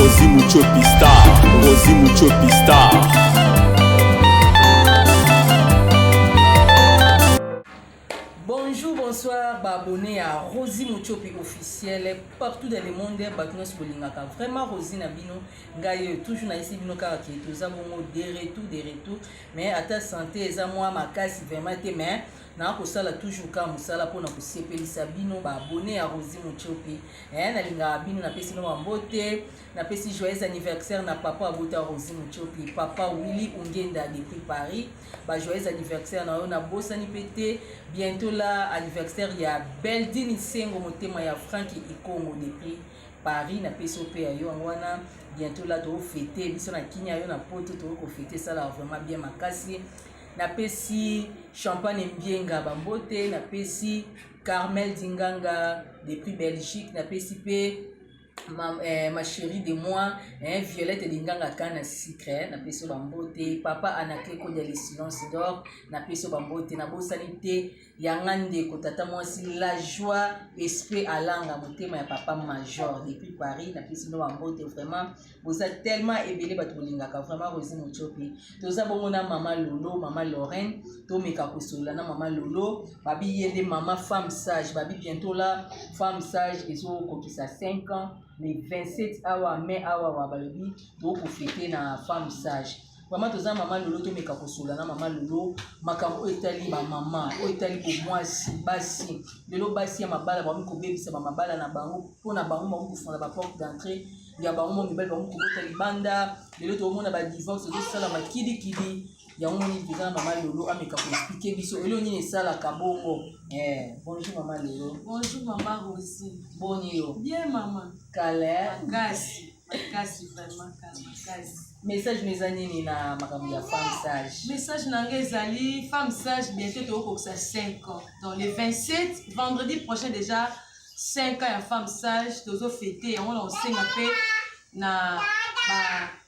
Rosi Muchopi Star, Rosi Muchopi Star. Bonjour, bonsoir, ba abonnés à Rosie Muchopi officiel partout dans le monde, bato nyonso bolingaka vraiment Rosie na bino ngai euh, toujours na yesi bino kaka ke toza bongo de retour de retour mais ata santé eza mwa makasi vraiment te mais na kosala toujours kaka mosala mpona kosepelisa bino ba abonne ya rosi motiope eh, nalingaka bino napesi no bambote napesi joyeux anniversaire na papa abota rosi motiope papa willi ungenda depuis paris ba joyeux anniversaire na yo nabosani mpe te bientôt la anniversaire ya beldini sengo motema ya franki ikongo depuis paris napesi yo mpe ya yo yango wana bientôt la tofete biso na kimia yo na poto tokoki kofete esalaka vraiment bien makasi Napesi Champagne Mbienga ba mbote, napesi Carmel Dinganga depuis Belgique, napesi mpe ma, eh, ma chérie de moi eh, Violette Dinganga Kana Secret, napesi yo ba mbote, papa Anacleco de le silence d'or, napesi yo ba mbote, nabosani te yanga ndeko tata mwasi la joie esprit alanga motema ya papa major depuis paris napesi bino bambote vraiment boza tellement ebele bato bolingaka vraiment rosi mocopi toza bongo na mama lolo mama lorraine tomeka kosolola na mama lolo babi ye nde mama femme sage babi bientôt la femme sage ezokokisa 5 ans le 27 awa mai awa wa balobi tokofete na femme sage Vraiment toza mama lolo tomeka kosola na mama lolo makambo oyo etali bamama oyo etali bomwasi basi lelo basi ya mabala bakomi kobebisa bamabala na bango mpo na bango bakomi kofungola baporte d'entrée ya bango mo mibali bakomi kobota libanda lelo tokomona badivorce ezosalama kilikili yango moni toza na mama lolo ameka koexplike biso eloo nini esalaka bongo eh, bonjour mama lolo bonjour mama rosi boni yo bien mama kale kasi makasi vraiment makasi message na eza nini na makambo ya femme sage message na ngai ezali femme sage bientôt tokokokisa 5 ans donc le 27 vendredi prochain déjà 5 ans ya femme sage tozo fete yango na osenga mpe na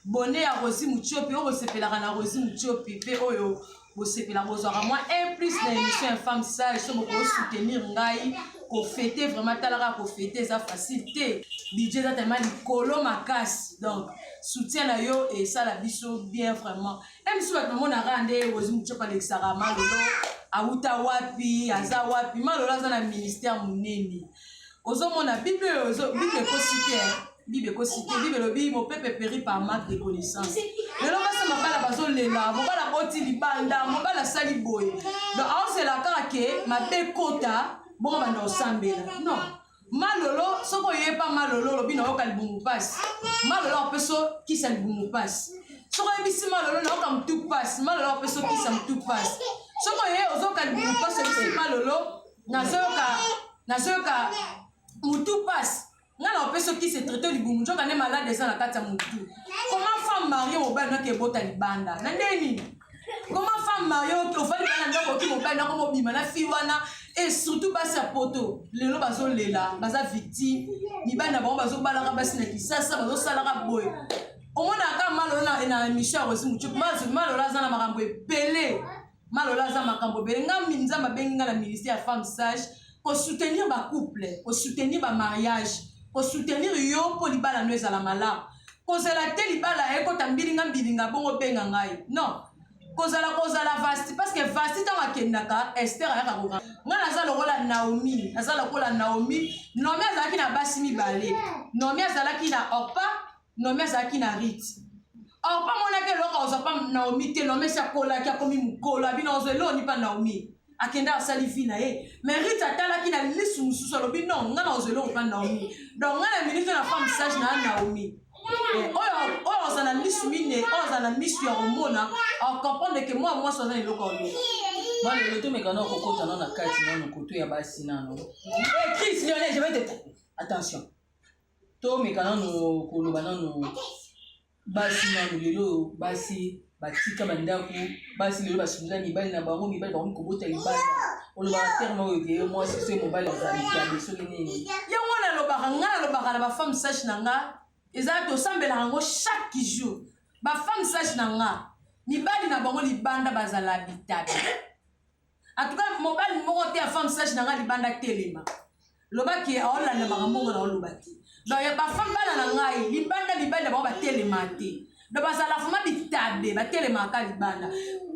bone ya rosi mutiopi oyo kosepelaka na rosi mutiopi mpe oyo bosepela bozwaka mwa un plus na émission ya femme sage so bokoki soutenir ngai kofete vraiment talaka kofete eza facile te budget eza tellement likolo makasi donc soutien na yo esala biso bien vraiment e biso bato namonaka nde ozi mocepa alekisaka malolo awuta wapi aza wapi malolo aza na ministère monene ozomona bible oyo bible ekosi te bible ekosi te bible elobi mopepe peri par marque de connaissance lelo basi mabala bazolela mobala boti libanda mobala asali boye donc aozela kaka ke mabe kota bongo banda osambela non malolo soki oye pa malolo olobi nayoka libumu mpasi malolo akopeso kisa libumu mpasi soki oyebisi malolo nayoka motu mpasi malolo akopeso kisa motu mpasi soki oye ozoka libumu mpasi oyebisi malolo nazoyoka nazoyoka mutu pasi nga na opesi okisi traite libumu nzoka nde malade eza na kati ya mutu comment femme marie mobali noki ebota libanda na nde nini comment femme marie ofali bana ndako oki mobali nako mobima na fille wana et surtout basi ya poto lelo bazolela baza victime mibali na bango bazobalaka basi na kisasa bazosalaka boye omonaka malola na émission ya rosi mucuku malola aza na makambo ebele Malola aza makambo ebele nga nzambe abengi nga na ministère ya femme sage kosoutenir bacouple kosoutenir bamariage kosoutenir yo mpo libala no ezala malamu kozala te libala ekota mbilinga mbilinga bongo obenga ngai non kozala kozala vasti parceke vasti ntango akendaka ester ayaka koka ngai naza lokola naomi naza lokola naomi nomi azalaki na basi mibale nomi azalaki na orpa Naomi azalaki na Rite. Or pa monaki eloko ozwa pa Naomi te, Naomi esi akolaki akomi mokolo, abina ozwa eloni pa Naomi. Akenda asali vie na ye. Mais Rite atalaki na lisu mosusu alobi non, nga na ozwa eloko pa Naomi. Donc nga na minute na femme sage na Naomi. Eh, oyo oyo ozwa na lisu mine, oyo ozwa na misu ya komona, au comprendre que moi mwasi ozwa eloko ya lobi. Moi le loto mekana okokota nano na kati nano koto ya basi nano. Eh Chris Lionel, je vais te attention. tomeka nano koloba nano basi nano lelo oyo basi batika bandako basi lelo basundola mibali na bango mibali bakomi kobota libanda olobaka terme oyo te yo mwasi soki mobali azalikabe soki nini yango wana alobaka ngai nalobaka na bafemme sage na nga eza tosambelaka yango chaque jour bafemme sage na nga mibali na bango libanda bazala bitabe En tout cas, mobali moko te ya femme sage na nga libanda telema. Loba ke aolanda makambo ngo na oloba te. Donc ya ba femme bana na ngai libanda libanda bango batelema te. Donc bazala vraiment bitabe batelema ka libanda.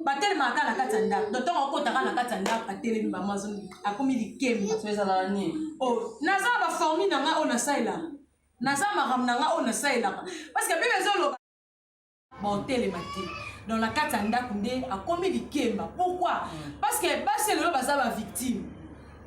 Batelema ka na kati ya ndako. Donc tango akota ka na kati ya ndako atelemi ba mazo akomi likemba. So ezala nini? Oh, naza ba formule na nga oyo nasalelaka. Naza makambo na nga oyo nasalelaka. Parce que Biblia ezoloba baotelema te donc na kati ya ndako nde akomi likemba pourquoi mm. parce que basi lelo baza bavictime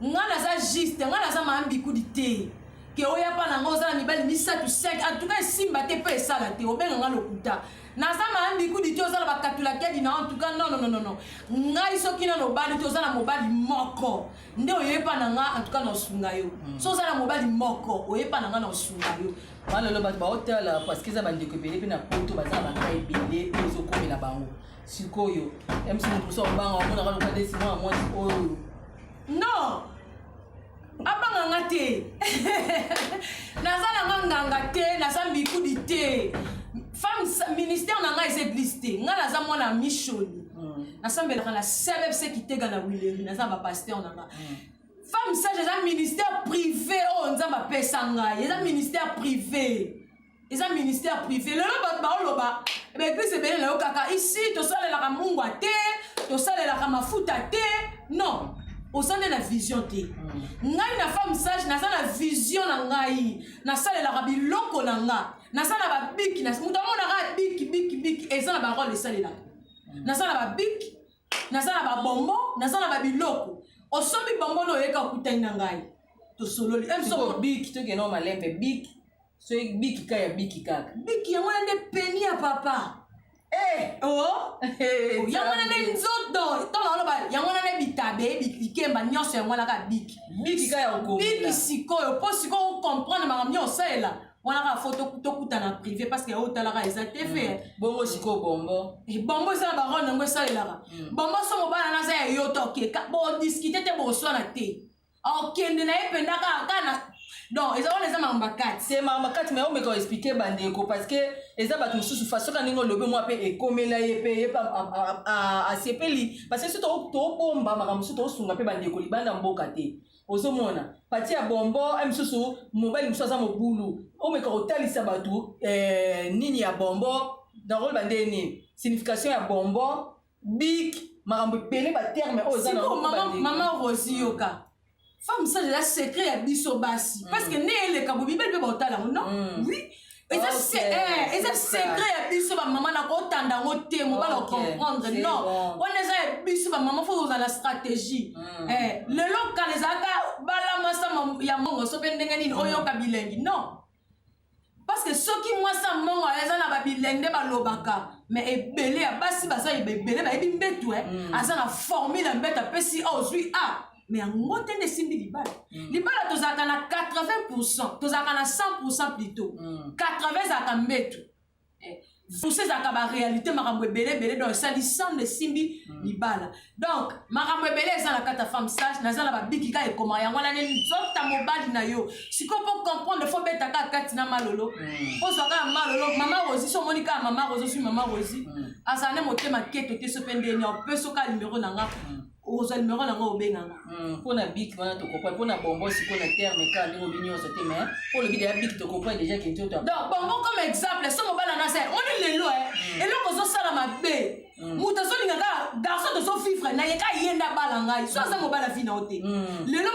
ngai naza juste ngai naza maambikudi te ke oya mpa na ngai oza na mibali misato 5 antuka esimba te mpe esala te obenga ngai lokuta naza maambikudi te oza na bakatulakedi na antuka nonononono ngai soki nano obali te oza na mobali moko nde oyepa na ngai antuka na osunga yo mm. so oza na mobali moko oyepa na ngai na osunga yo wana lelo bato baotala parceke eza bandeko ebele mpe na poto baza na baka ebele mpe ezokomela bango sikoyo mc moto mosu akobanga omonaka loka nde sima ya mwasi oyo non abanga nga te naza na nga nganga te naza mbikudi te femme ministère na ngai eza eglise te ngai naza mwana mishoni hmm. nasambelaka na sebebse kitega na wileri naza na bapaster na ngai hmm. femme sage eza ministère privé oyo oh, nzambe apesa ngai eza ministère privé eza ministère privé lelo bato baoloba baeglise ebele nayo kaka isi tosalelaka mungwa te tosalelaka mafuta te non oza nde na vision te mm. ngai na femme sage naza na vision na ngai nasalelaka biloko na nga naza na babiki moto amonaka biki biki biki eza na barole esalelaka mm. naza na babiki naza na babombo naza na babiloko osombi bombo na oyeka okutani na ngai tosololi biki tokende malembe biki soki biki ka ya biki kaka biki yango wana nde peni ya papa Eh, oh. eh, oh, yango wana nde nzoto ntango aloba yango wana nde bitabe bikemba nyonso yango wana kaka biki biki sikoyo mpo sikoyo okomprendre makambo nyonso osalela wana kaka fo tokutana privé parce que yango otalaka eza te fe mm. bongo sikoyo bombo eh, bombo eza na barone yango esalelaka mm. bombo so mobala naza ya yo toke bodiskite te boswana te okende na ye mpenza kaka kaka na donc eza wana eza makambo makati se makambo makati mai omeka oexplike bandeko parce que eza bato mosusu faso ka ndenge olobi mwa mpe ekomela ye mpe ye mpe asepeli parce que so tobomba makambo mosusu tosunga mpe bandeko libanda mboka te ozomona pati ya bombo a misusu mobali mosusu aza mobulu omeka kotalisa bato eh, nini ya bombo nakoloba nde nini signification ya bombo bik makambo ebele baterme oyo eza mama rosi yoka femme sage eza secret ya biso basi mm. parce que nde eleka bobibeli mpe baotala yango non mm. oui eza Ok, se- eh, eza c'est ça. secret ya biso bamama na kotanda yango te mobala Ok, ocomprendre c'est non bon. wana eza ya biso bamama fo kozala stratégie Mm. Eh, lelo kala ezalaka balamasa ma- ya mongo so mpe ndenge nini oyoka bilengi non parce que soki mwasi ya mongo eza na babilengi nde balobaka mais ebele ya basi baza ebele bayebi mbetu eh. aza na formule ya mbetu apesi a ozwi a me yango te nde esimbi libala mm. libala tozalaka na 80 pourcent tozalaka na 100 pourcent plutôt 80 mm. ezalaka mbetu eh, pousa ezalaka baréalité makambo ebele ebele donc esali sande esimbi mm. libala donc makambo ebele eza na kati ya femme sage naza na babiki kaka ekoma yango wana nde nzota mobali na yo sikoyo mpo comprendre fo beta kaka kati na malolo ozwa kaka malolo mama rosi so omoni kaka mama rosi osui mama rosi azala nde motema keto te so mpe ndeni opeso kaka nimero na nga okozwa numero na yango obenga nga hmm, mpo na biki wana tokopa mpo na bongo sikoyo na terme kaka ndenge obi nyonso te mais mpo olobi deja biki tokopa deja kintoto donc bongo comme exemple so mobala na se oni lelo e hmm. eloko ozosala mabe hmm. moto azolinga kaka garçon tozovivre na ye ka ye nde abala ngai so aza mobala vi na yo te lelo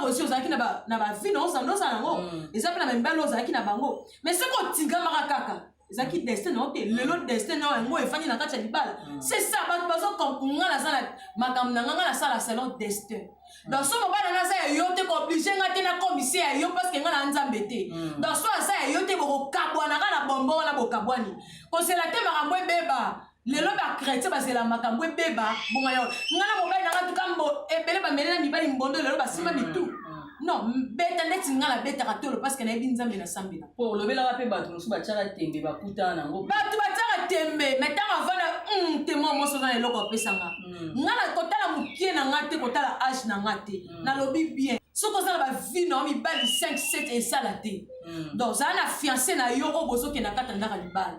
marosi ozalaki na bavi na ozanda ozala yango eza mpe na bamibali ozalaki na bango mais soki otingamaka kaka ezalaki destin na yo te lelo destin na yo yango efandi na kati ya libala mm. c'est ça bato bazokonga naza na makambo na nga nga nasala selon destin mm. donc so mobala naza ya yo te kooblige nga te nakomise ya yo parce que nga na nzambe te mm. donc so aza ya yo te bokokabwana kaka na bombo wana bokabwani kosela te makambo ebeba lelo ba chrétien bazela makambo ebeba bonga yango ngai na mobali na ngai tuka mbo ebele bamele na mibali mbondo lelo basimba mm, mitu mm. non beta ndeti ngai nabetaka tolo parceke nayebi nzambe nasambela po olobelaka mpe bato mosusu batiaka tembe bakutana nango bato batiaka tembe mai ntango avanda mm, temo moso oza na eloko apesanga ngai na kotala mokie na ngai te kotala age na ngai te nalobi bien soki oza na bavi na yo mibali 5 7 esala te donc ozala na fiance na yo oyo bozokenda kata ndaka libala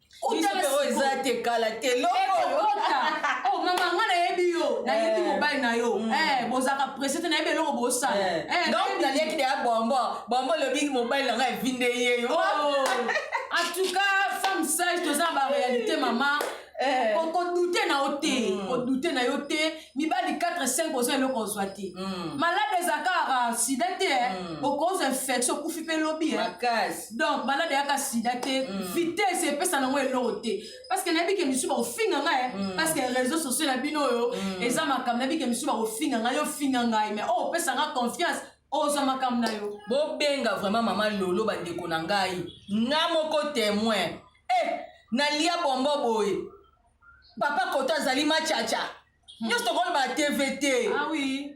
utao eza te kala te lokokota o oh, mama nga nayebi yo nayebi eh. mobali na yo mm. eh, bozalaka presse te nayebi eloko bosala eh. donc naliaki deya bombo bombo olobi mobali na nga evinde ye yo oh. en tout cas femme sage toza na baréalité mama kodute na yo te kodute mm. na yo te mibali 4 5 oza eloko ozwa te mm. malade ezalaka kaka sida te eh. mm. okozwa infection okufi mpe lobi eh. donc malade eyaka sida te mm. vitesse epesa nango eloko te parceke nayebi ke misusu bakofinga ngai eh. mm. parceke réseau sociaux na bino oyo mm. eza makambo nayebi ke misusu bakofinga ngai ofinga ngai mais oyo oh, opesa ngai confiance ozwa makambo na yo bobenga vraiment mama lolo bandeko na ngai nga moko témoin e eh, nalia bombo boye papa koto azali machacha hmm. nyonso tokolobaka tv te ah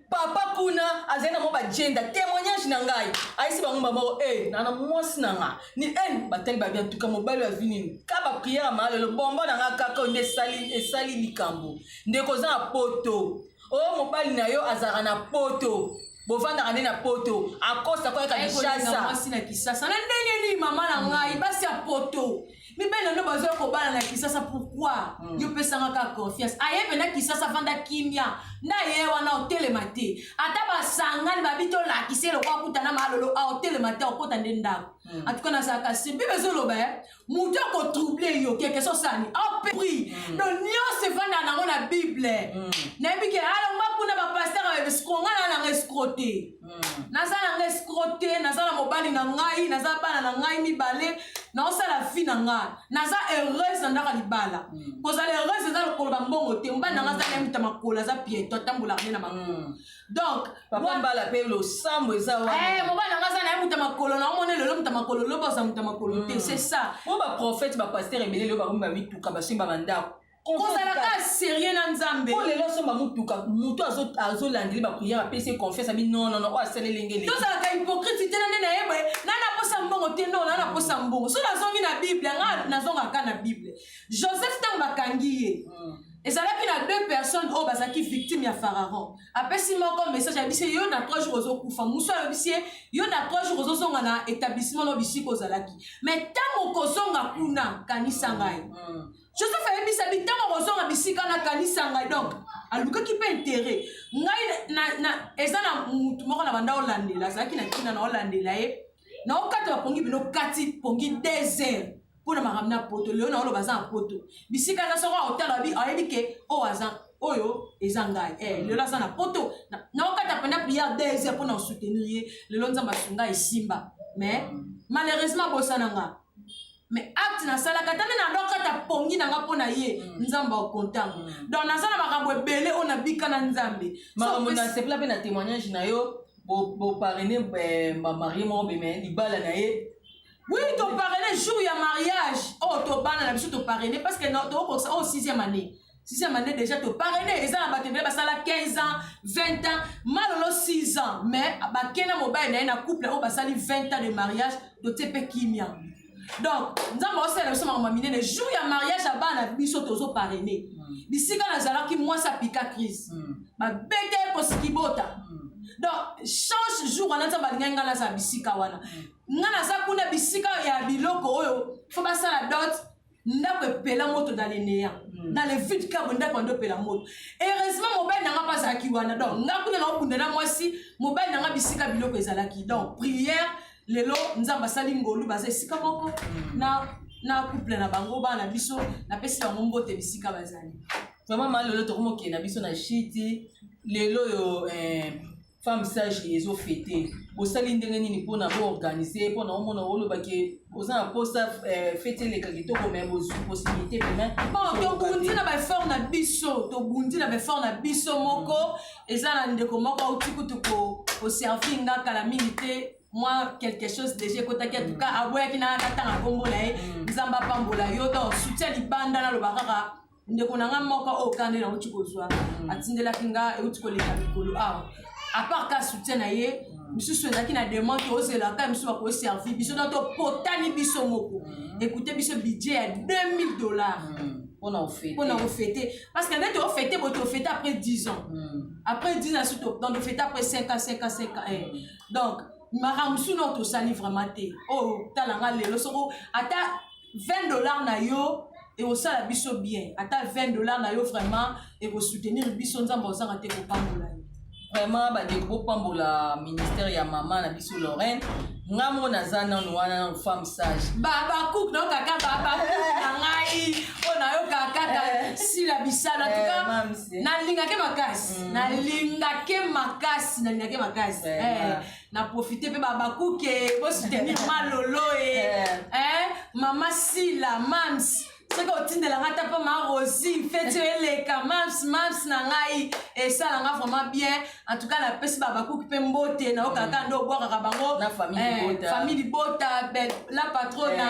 papa kuna azali na mwa bagenda témoignage na ngai ayesi bango bamoko e eh, nana mwasi na nga ni ene eh, batali babi antuka mobali azwi nini ka bapriere ya maa lelo bombo na nga kaka oyo nde esali likambo ndeko oza na poto oyo oh, mobali na yo azalaka na poto bovandaka nde na poto akosa koyaka kinshasa na ndenge nini mama na ngai basi ya poto mibele nde bazoya kobala na kisasa pourkui mm. yo pesanga kaka confiance aye pena kisasa vanda kimia nde aye wana otelema te ata basangani babi tolakisa eloko akuta na malolo a otelema te okota nde ndako mm. atuka nazalaka se bibe ezoloba e eh? moto akotrouble yo kekese osani apri mm. donc nyonso evanda nango na bible mm. nayebi ke alongba kuna bapaster babebisikonga na nanga escrote hmm. naza na nga escro te naza na mobali na ngai naza bana na ngai mibale naosala vie na ngai naza heureuse na ndaka libala hmm. kozala heureuse eza lokoloba mbongo te mobali na ngai aza nayemuta makolo aza pieto atambola ne na makolo hmm. donc mbala mpe losambo eza eh, mobali na ngai aza nayemuta makolo na omona lelo muta makolo loba oza muta makolo te c'est ça po baprofete bapaster ebele lelo bakomi bamituka basimba bandako kozalaka serieux na nzambe po lelo asomba motuka moto azolandeli bapriere apesi ye confiance abi nonono oyo asaleli ngeli tozalaka hypocrite te na nde nayeba na naposa mbongo te no na naposa mbongo so nazongi na bible nga nazongaka na bible joseph ntango bakangi ye hmm. ezalaki na deux personnes oyo bazalaki victime ya pharaon apesi moko message ayebisi ye yo na trois jours ozokufa mosu ayebisi ye yo na trois jours ozozonga na établissement no bisika ozalaki mais ntango okozonga kuna kanisa ngai hmm. joseph ayebisa bi ntango akozonga bisika nakanisa ngai donc alukaki mpe interet ngai na, na, eza na motu moko na banda olandela azalaki na ntina na olandela ye naokata bapongi bino kati pongi des heures mpo na makambo na poto lelo naoloba aza na poto bisika aza soko aotala ayebi ke oyo aza oyo eza ngai eh, lelo aza na poto naokata penda priere des heures mpo na osoutenir ye lelo nzambe asunga esimba mais malheureusement abosana ngai mais acte nasalaka ata nde nalokata pongi na nga mpo na ye mm. nzambe akontanga mm. donc naza na makambo ebele oyo nabika na nzambe makambo nasepela mpe na témoignage na yo boparene eh, marie moko beme libala na ye oui toparene jour ya mariage oyo oh, tobana na biso toparene parce que tokokokisa oyo oh, sixième année sixième année déjà to parraine eza na bato ebele basala 15 ans 20 ans malolo 6 ans mais bake na mobali na ye na couple oyo basali 20 ans de mariage totie mpe kimia donc nzambe aosalela biso makambo minene jour ya mariage ya bana biso tozo parraine hmm. bisika nazalaki mwasi apika crise hmm. babete kosikibota hmm. donc change jour wana nzambe alingaki ngai nazala bisika wana ngai naza kuna bisika ya biloko oyo fo basala dote ndako epela moto na lenea mm. na le vide cabo ndako yando epela moto heureusement mobali na nga mpe azalaki wana donc nga kuna na okunda na mwasi mobali na nga bisika biloko ezalaki donc prière lelo nzambe asali ngolu baza esika moko mm. na na couple na bango bana biso napesi bango mbote bisika bazali vraiment ma lelo tokomokende na biso na shiti lelo oyo eh, femme sage ezo fete bosali ndenge nini mpona boorganize mpona omona olobaki oza na mposa eh, fete eleka kitoko mai bozwi possibilité demain tobundi na baeffort na biso tobundi na baeffort na biso moko eza na ndeko moko auti kutu koservi nga kala mingi te mwa quelque chose déjà ekotaki atuka aboyaki na natanga nkombo na ye mm. nzambe apambola yo donc soutien libanda naloba kaka ndeko na nga moko oyo kande nauti kozwa mm. atindelaki nga euti koleka mikolo awa apart ka soutien na ye misusu ezalaki na demande tozela ka misusu bakoservi biso na topotani biso moko mm. ekute biso budget ya 2000 dollars mm. mpona kofete parce que nde tofete bo tofete après 10 ans après 10 ans suto donc tofete après 5 ans 5 ans 5 ans eh. donc makambo mosusu nao tosali vraiment te oyo oh, tala nga lelo soko ata 20 dollars na yo ekosala biso bien ata 20 dollars na yo vraiment ekosoutenir biso nzambe ozanga te kopambola yo vraiment bandeko bopambola ministère ya mama na biso lorraine nga moko naza nano wana nano femme sage babakuk nayoka ka babakuk na ngai mpo nayoka kaka eh. sila bisala tuka eh, nalingake makasi mm. nalingake makasi nalingake makasi eh, na profite mpe babakuke bosoutenir malolo e eh. eh, mama sila mams soki otindela ngai ata mpo ma rosi feti oyo eleka mams mams na ngai esala ngai vraiment bien en tout cas napesi babakuki mpe mbote na oyo kaka nde obwakaka bango famille libota eh, la patrona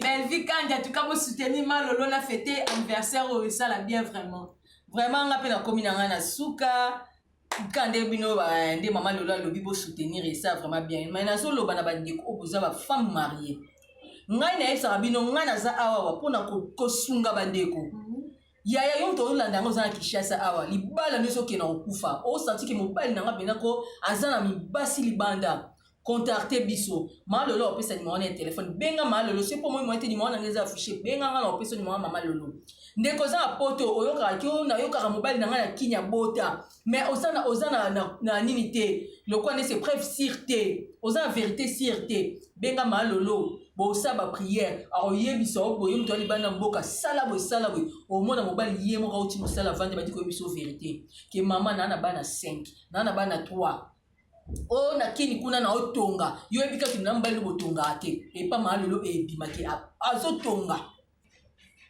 belvi kandi en tout cas bosoutenir malolo na fete anniversaire oyo esala bien vraiment vraiment ngai mpe nakomi na ngai na suka ka nde bino nde mama lelo alobi bo soutenir esa vraiment bien mais nazoloba na bandeko oyo boza ba femme marie ngai nayebisaka bino ngai naza awawa mpona kosunga bandeko mhm. yaya yo moto olanda yango oza na kinshasa awa libala nde ezokenda kokufa osantiki mobali na ngai mpenza ko aza na mibasi libanda Contacter biso. Mama Lolo opesa numéro na téléphone. Benga Mama Lolo. Soki po moi moi te numéro na ngai eza affiché. Benga nga na opesa numéro Mama Lolo. Ndeko oza na poto oyokaka ki na yokaka mobali na ngai na kini abota. Mais oza na oza na na, na nini te. Lokwa ne se preuve sur te. Oza na vérité sur te. Benga Mama Lolo. Bosa ba prière. Akoyebisa yo boye moto alibanda mboka sala boye sala boye. Omona mobali ye moko auti mosala vande badi koyebisa yo vérité. Ke mama na na bana 5, na na bana 3. oyo na kini kuna na otonga yo oyebi kaka na mobali botongaka te epa maa lelo ebimaki azotonga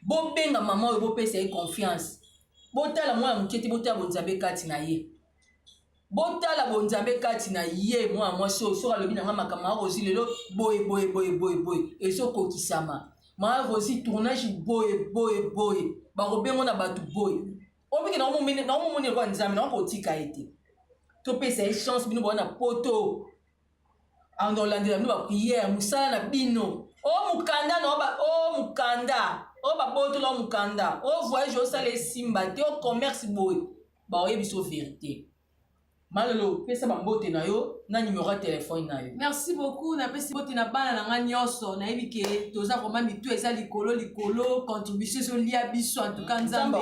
bobenga mama oyo bopesa ye confiance botala mwana moke te botala bonzambe kati na ye botala bonzambe kati na ye mwana mwasi oyo soki alobi na ngai makambo ya rosi lelo boye boye boye boye boye ezokokisama maa rosi tournage boye boye boye bakobengo na bato boye oyo mike naomomoni lokola nzambe nao kotika ye te topesa ye chance bino bowana poto anda olandela bino bapriere mosala na bino o oh, mokanda na o oh, mokanda o oh, babotola o mokanda o voyage osala esimba te o commerce boye baoyebiso verité Malolo, pesa ba mbote na yo na numero ya telefone na yo. Merci beaucoup, napesi mbote na bana na ngai nyonso. Nayebi ke toza koma mitu eza likolo likolo, contribution ezolia biso. En tout cas, Nzambe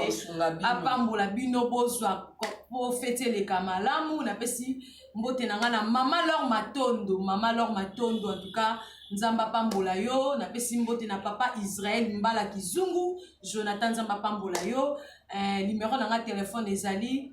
apambola bino, bozwa po feti eleka malamu. Napesi mbote na ngai na mama Lor Matondo, mama Lor Matondo. En tout cas, Nzambe apambola yo. Napesi mbote na papa Israël Mbala Kizungu, Jonathan Nzambe apambola yo. Eh, numero na ngai telefone ezali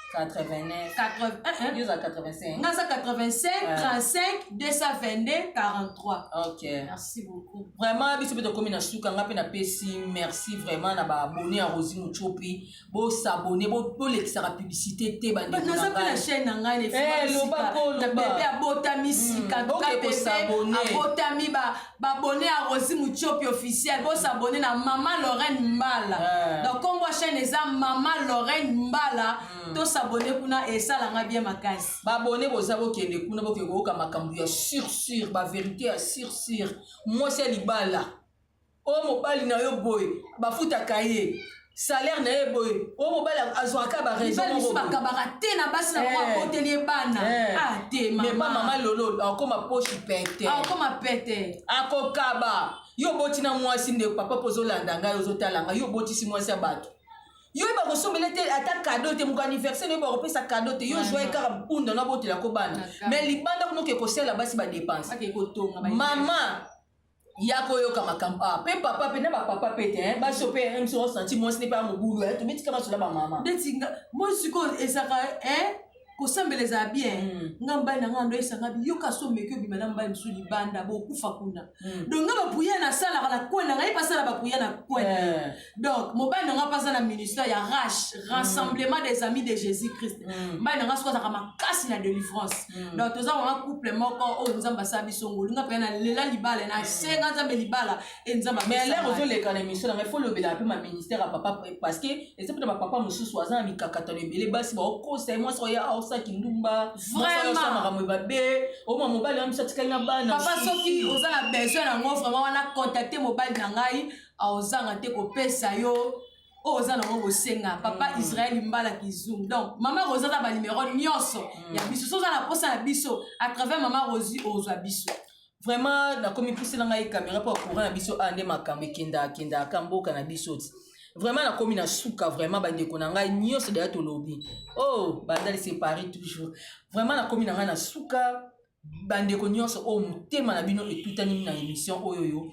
89 yo za 85 nga za 85 35 222 43 ok merci beaucoup vraiment biso mpe tokomi na suka nga mpe napesi merci vraiment na baabone ya rosi mocopi bosabone bolekisaka publicité te bandnaza mpe na chaîne na ngai na bebe abotami sika abotami ba abonne ya Rosie Mutshopi officiel bo s'abonner na Mama Lorraine Mbala euh. donc kombo chaîne eza Mama Lorraine Mbala mm. to s'abonner kuna esala nga bien makasi ba abonne boza bokende kuna bokende koyoka makambo ya sur sur ba verité ya sur sur mwasi ya libala o oh, mobali na yo boye bafutaka ye salaire na ye boye oyo mobali azwaka ba raison moko bakabaka te na basi na bango akoteli ye bana ah te mama mais mama lolo akoma poche pete akoma pete akokaba yo oboti na mwasi nde papa po ozolanda ngai ozotala ngai yo obotisi mwasi ya bato yo yeba kosombela te ata kado te moko anniversaire oyeba kopesa kado te yo zwa ye kaka mpunda na botelako bana mais libanda kunoke kosala basi badepense mama ya koyoka makambo ah pe papa pe na ba papa pe te hein ba so pe même si on senti moi ce n'est pas mon boulot hein tu metika masola ba mama ndeti nga moi siko ezaka hein kosambela ezala bien hmm. nga mbai na nga ndo esanga biyoka so meki obima na mbai mosusu libanda bokufa kuna hmm. donc nga bapuya nasalaka na kwena ngai basala bapuya na kwena eh. donc mobali na ngai mpe aza na ministère ya rash mm. rassemblement des amis de jésus christ mm. mobali na ngai soki azalaka makasi na délivrance mm. donc toza wana couple moko oyo oh, nzambe asala biso ngolu nga mpe na lela libala na senga nzambe libala e nzambe mais lere ozoleka na émission nanga ifo olobela mpe ma ministère ya papa parce que eza mpe na bapapa mosusu aza na mikakatano ebele basi baokosa ye mwasi oya aosa kindumba vraimentsa makambo ebabe oma oh, mobali wana biso atikali na bana papa soki oza na besoin yango vraiment wana contacte mobali na ngai aozanga te kopesa yo oyo oza nango kosenga papa mm. israel mbala kizum donc mama rosi aza banimero nyonso mm. ya biso so oza na mposa ya biso à travers mama rosi ozwa biso vraiment nakomi pusela ngai kamera mpo courant na biso awa nde makambo ekendakendaka mboka na biso ti vraiment nakomi na suka vraiment bandeko na ngai nyonso deya tolobi o oh, bandali separi toujours vraiment nakomi na ngai na suka bandeko nyonso oyo oh, motema na bino etutani na émission oyo yo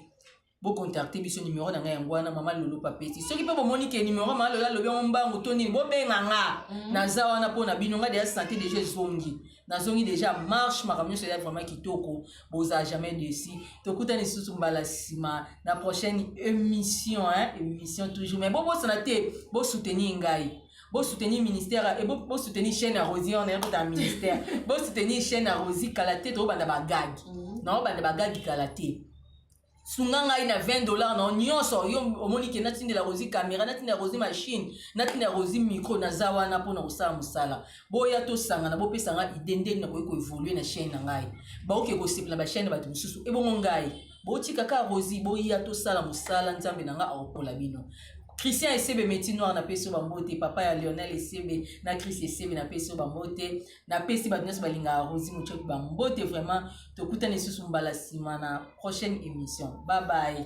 bo contacte biso numero na ngai yango wana mama lolo papeti soki mpe bomoni ke numero mama lolo alobi yango mbangu to nini bobenga nga mm. naza wana mpo na bino ngai deja sante deja ezongi nazongi deja marche makambo nyonso eza vraiment kitoko boza jamais desi tokutani lisusu mbala nsima na prochaine émission hein? émission toujours mais bobosana te bosoutenir ngai bosoutenir ministère e bosoutenir chaîne ya rosi wana yakota ministère bosoutenir chaîne ya rosi kala te tokobanda bagagi mm. naobanda bagagi kala te sunga ngai na 20 dollars na nyonso yo omoni ke natindela rosi camera natindela rosi machine natindela rosi micro naza wana mpo na kosala mosala boya tosangana bopesa ngai ide nde nakoki koevolue na chaine na ngai baoke kosepela bachaine ya bato mosusu ebongo ngai botika ka rosi boya tosala mosala nzambe na ngai akokola bino christian esebe meti noir na peso bambote papa ya lionel esebe na christ esebe na peso bambote napesi bato nyonso balingaka rosi mocoki bambote vraiment tokutani lisusu mbala nsima na prochaine émission babaye